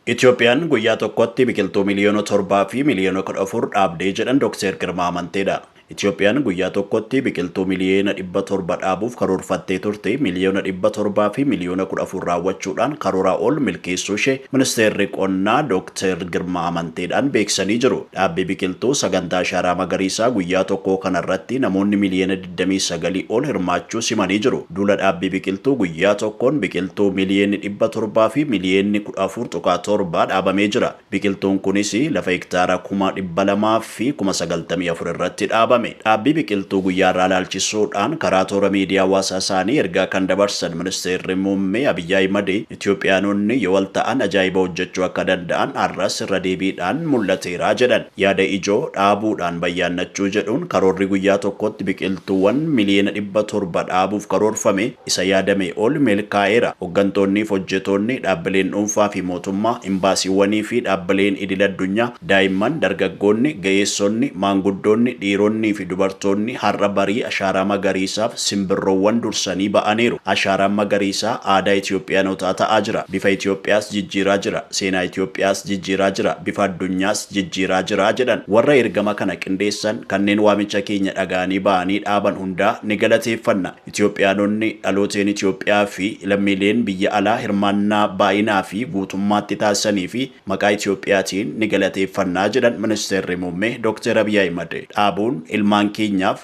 Itoophiyaan guyyaa tokkotti biqiltuu miliyoona 7 fi miliyoona 14 dhaabdee jedhan Dokteer Girmaa Amanteedha. Itoophiyaan guyyaa tokkotti biqiltuu miliyeena 700 dhaabuuf karoorfattee turte miliyoona 700 fi miliyoona 14 raawwachuudhaan karooraa ol milkeessuushee Ministeerri Qonnaa Dokteer Girmaa Amanteedhaan beeksisanii jiru. Dhaabbii biqiltuu sagantaa Ashaaraa Magariisaa guyyaa tokkoo kanarratti namoonni miliyeena digdamii sagalii ol hirmaachuus himanii jiru. Duula dhaabbii biqiltuu guyyaa tokkoon biqiltuu miliyeenni dhibba torbaa fi miliyeenni kudha afur tuqaa torba dhaabamee jira. Biqiltuun kunis lafa hektaara kuma dhibba lamaa fi kuma sagaltamii afur irratti dhaabame. Dhaabbii biqiltuu guyyaa har'aa ilaalchisuudhaan karaa toora miidiyaa hawaasaa isaanii ergaa kan dabarsan Ministeerri Muummee Abiy Ahimad, Itiyoophiyaanonni yoo wal ta'an ajaa'iba hojjechuu akka danda'an har'as irra deebiidhaan mul'ateera jedhan. Yaada ijoo dhaabuudhaan bayyaannachuu jedhuun karoorri guyyaa tokkotti biqiltuuwwan miliyoona dhibba torba dhaabuuf karoorfame isa yaadamee ol milkaa'eera. Hoggantoonnii fi hojjetoonni, dhaabbileen dhuunfaa fi mootummaa, imbaasiiwwanii fi dhaabbileen idil addunyaa, daa'imman, dargaggoonni, ga'eessonni, maanguddoonni, dhiironnii fi dubartoonni har'a barii ashaaraa magariisaaf simbirroowwan dursanii ba'aniiru. Ashaaraan magariisaa aadaa Itiyoophiyaanotaa ta'aa jira. Bifa Itiyoophiyaas jijjiiraa jira. seenaa Itoophiyaas jijjiiraa jira, bifa addunyaas jijjiiraa jira jedhan. Warra ergama kana qindeessan, kanneen waamicha keenya dhaga'anii ba'anii dhaaban hundaa ni galateeffanna. Itoophiyaanonni, dhalooteen Itoophiyaa fi lammiileen biyya alaa hirmaannaa baay'inaa fi guutummaatti taasisaniifi maqaa Itoophiyaatiin ni galateeffanna jedhan Ministeerri Muummee Dooktar Abiy Ahimad. Dhaabuun ilmaan keenyaaf.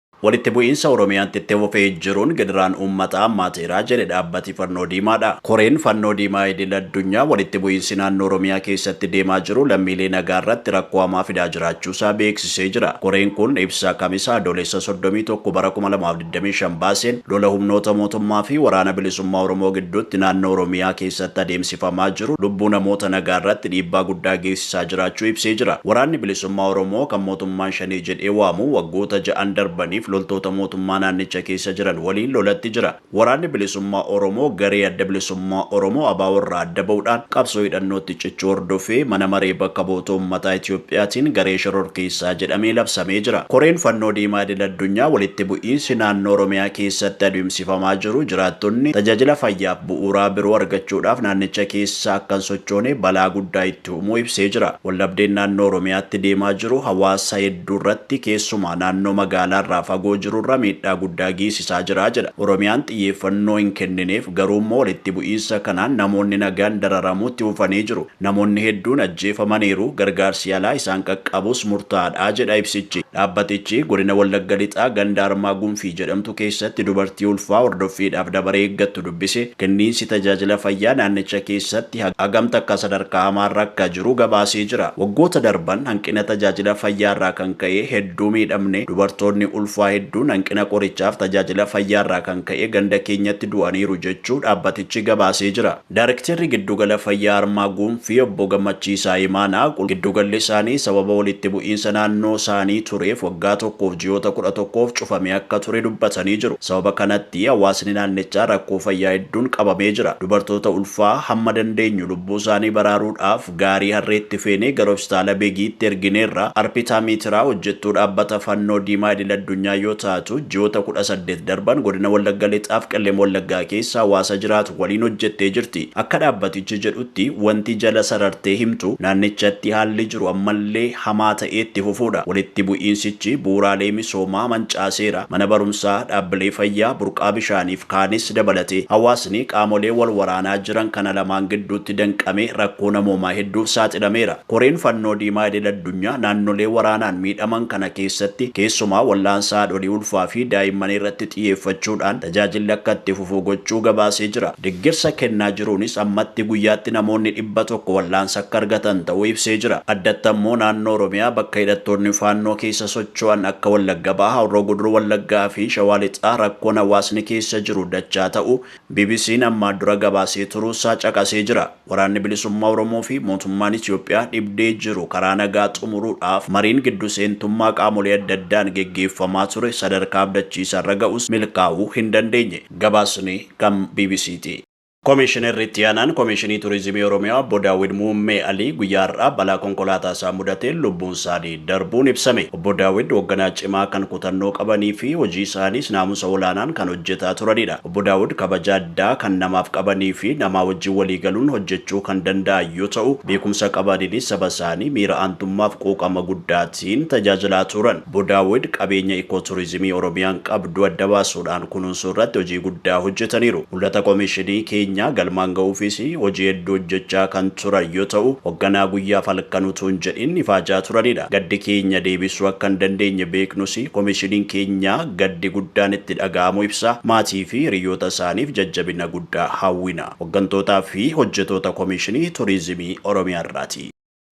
Walitti bu'iinsa Oromiyaatti itti fufee jiruun gidiraan uummataa hammaateera jedhe dhaabbati Fannoo Diimaadha. Koreen Fannoo Diimaa Idil Addunyaa walitti bu'iinsi naannoo Oromiyaa keessatti deemaa jiru lammiilee nagaarratti rakkoo hamaa fidaa jiraachuusaa beeksisee jira. Koreen kun ibsa Kamisa Adoolessa 31 bara 2025 baaseen lola humnoota mootummaa fi Waraana Bilisummaa Oromoo gidduutti naannoo Oromiyaa keessatti adeemsifamaa jiru lubbuu namoota nagaarratti dhiibbaa guddaa geessisaa taasisaa jiraachuu ibsee jira. Waraanni Bilisummaa Oromoo kan mootummaan Shanee jedhee waamu waggoota ja'an darbaniif loltoota mootummaa naannicha keessa jiran waliin lolatti jira. Waraanni Bilisummaa Oromoo garee Adda Bilisummaa Oromoo, abo, irraa adda ba'uudhaan qabsoo hidhannootti cichuu hordofee Mana Maree Bakka Bu'oota Uummataa Itoophiyaatiin garee shororkeessaa jedhamee labsamee jira. Koreen Fannoo Diimaa Idil Addunyaa walitti bu'iinsi naannoo Oromiyaa keessatti taasifamaa jiru jiraattonni tajaajila fayyaaf bu'uuraa biroo argachuudhaaf naannicha keessa akka hin sochoone balaa guddaa itti uumuu ibsee jira. Waldhabdeen naannoo Oromiyaatti deemaa jiru hawaasa hedduurratti keessumaa naannoo magaalaarraa fagoo jirurra miidhaa guddaa geessisaa jira jedha. Oromiyaan xiyyeeffannoo hin kennineef, garuummoo walitti bu'iinsa kanaan namoonni nagaan dararamuutti fufanii jiru. Namoonni hedduun ajjeefamaniiru, gargaarsi yalaa isaan qaqqabus murtaa'aadha, jedha ibsichi. Dhaabbatichi Godina Wallagga Lixaa ganda Armaa Gunfii jedhamtu keessatti dubartii ulfaa hordoffiidhaaf dabaree eeggattu dubbise, kenniinsi tajaajila fayyaa naannicha keessatti hagam takka sadarkaa hamaarra akka jiru gabaasee jira. Waggoota darban hanqina tajaajila fayyaarraa kan ka'e hedduu miidhamne, dubartoonni ulfaa hedduun hanqina qorichaaf tajaajila fayyaarraa kan ka'e ganda keenyatti du'aniiru jechuu dhaabbatichi gabaasee jira. Daarekteerri Giddugala Fayyaa Harmaa Guunfii Obbo Gammachiisaa Imaanaa, giddugalli isaanii sababa walitti bu'iinsa naannoo isaanii tureef waggaa tokkoof ji'oota kudha tokkoof cufamee akka ture dubbatanii jiru. Sababa kanatti hawaasni naannichaa rakkoo fayyaa hedduun qabamee jira. Dubartoota ulfaa hamma dandeenyu lubbuu isaanii baraaruudhaaf, Gaarii harreetti feenee gara Hospitaala Begiitti ergineerra. Arpitaa Miitiraa hojjettuu dhaabbata Fannoo Diimaa idil addunyaa yoo taatu, ji'oota kudha saddeet darban godina Wallagga Lixaaf Qellem Wallaggaa keessa hawaasa jiraatu waliin hojjettee jirti. Akka dhaabbatichi jedhutti wanti jala sarartee himtu naannichatti haalli jiru ammallee hamaa ta'ee itti fufuudha. Walitti bu'iinsichi bu'uuraalee misoomaa mancaaseera. Mana barumsaa, dhaabbilee fayyaa, burqaa bishaanii. Kaanis dabalatee hawaasni qaamolee wal waraanaa jiran kana lamaan gidduutti danqamee rakkoo namoomaa hedduuf saaxilameera. Koreen Fannoo Diimaa Idil Addunyaa naannolee waraanaan miidhaman kana keessatti keessumaa wal'aansa haadholii ulfaa fi daa'immanii irratti xiyyeeffachuudhaan tajaajilli akka itti fufu gochuu gabaasee jira. Deggersa kennaa jiruunis ammatti guyyaatti namoonni dhibba tokko wal'aansa akka argatan ta'uu ibsee jira. Addatti ammoo naannoo Oromiyaa bakka hidhattoonni Faannoo keessa Shawaan akka Wallagga Bahaa, Horroo Guduruu Wallaggaa fi Shawaa Lixaa rakkoon hawaasni keessa jiru dachaa ta'uu BBC'n ammaan dura gabaasee turuusaa caqasee jira. Waraanni Bilisummaa Oromoo fi mootummaan Itoophiyaa dhibdee jiru karaa nagaa xumuruudhaaf mariin giddu seentummaa qaamolee adda addaan geggeeffamaa ture sadarkaa abdachiisaarra ga'us milkaa'uu hin dandeenye. Gabaasni kan BBC'ti. Komiishinarri Itti Aanaan Komiishinii Turizimii Oromiyaa Obbo Daawwid Muummee Alii guyyaa har'aa balaa konkolaataa isaan mudateen lubbuun isaanii darbuun ibsame. Obbo Daawwid hogganaa cimaa kan kutannoo qabanii fi hojii isaaniis naamusa olaanaan kan hojjetaa turanidha. Obbo Daawwid kabaja addaa kan namaaf qabanii fi namaa wajjin walii galuun hojjechuu kan danda'an yoo ta'u, beekumsa qabaniinis saba isaanii miira aantummaaf quuqama guddaatiin tajaajilaa turan. Obbo Daawwid qabeenya Ikooturizimii Oromiyaan qabdu adda baasuudhaan kunuunsuu irratti hojii guddaa hojjetaniiru. Mul'ata Komishinii keenyaa galmaan ga'uufis hojii hedduu hojjechaa kan turan yoo ta'u, hogganaa guyyaaf halkan utuu hin jedhin ifaajaa turanidha. Gaddi keenya deebisuu akka hin dandeenye beeknus Komishiniin keenya gaddi guddaan itti dhaga'amuu ibsa. Maatii fi hiriyyoota isaaniif jajjabina guddaa hawwina. Hoggantootaa fi hojjetoota Komishinii Turizimii Oromiyaa irraati.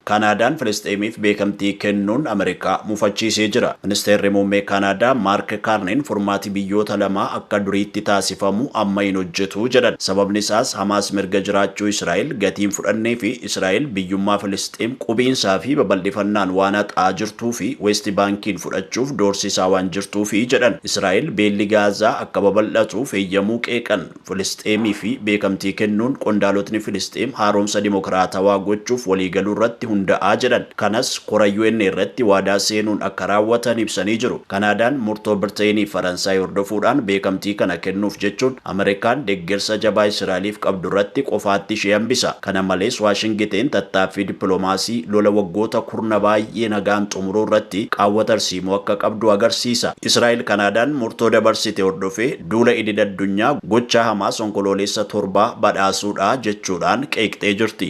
Kaanaadaan Filisxeemiif beekamtii kennuun Ameerikaa mufachiisee jira. Ministeerri Muummee Kaanaadaa Maark Kaarniin furmaati biyyoota lamaa akka duriitti taasifamu amma hin hojjetu jedhan. Sababni isaas Hamaas mirga jiraachuu Israa'el gatii hin fudhannee fi Israa'el biyyummaa Filisxeem qubiinsaa fi babal'ifannaan waan haqaa jirtuu fi Weesti Baankiin fudhachuuf doorsisaa waan jirtuufi jedhan. Israa'el beelli Gaazaa akka babal'atuuf heyyamuu qeeqan. Filisxeemiifi beekamtii kennuun qondaalotni Filisxeem haaromsa dimokiraatawaa gochuuf waliigaluurratti hunda'aa jedhan. Kanas kora UN irratti waadaa seenuun akka raawwatan ibsanii jiru. Kanaadaan murtoo Birteyiniif Faransaay hordofuudhaan beekamtii kana kennuuf jechuun Ameerikaan deggersa jabaa Israa'eliif qabdurratti qofaatti ishee hambisa. Kana malees Waashingiteen tattaaffii dippilomaasii lola waggoota kurna baay'ee nagaan xumuruurratti qaawwa tarsiimoo akka qabdu agarsiisa. Israa'el Kanaadaan murtoo dabarsite hordofee duula idil-addunyaa gochaa Hamaas Onkoloolessa 7 badhaasuudha jechuudhaan qeeqxee jirti.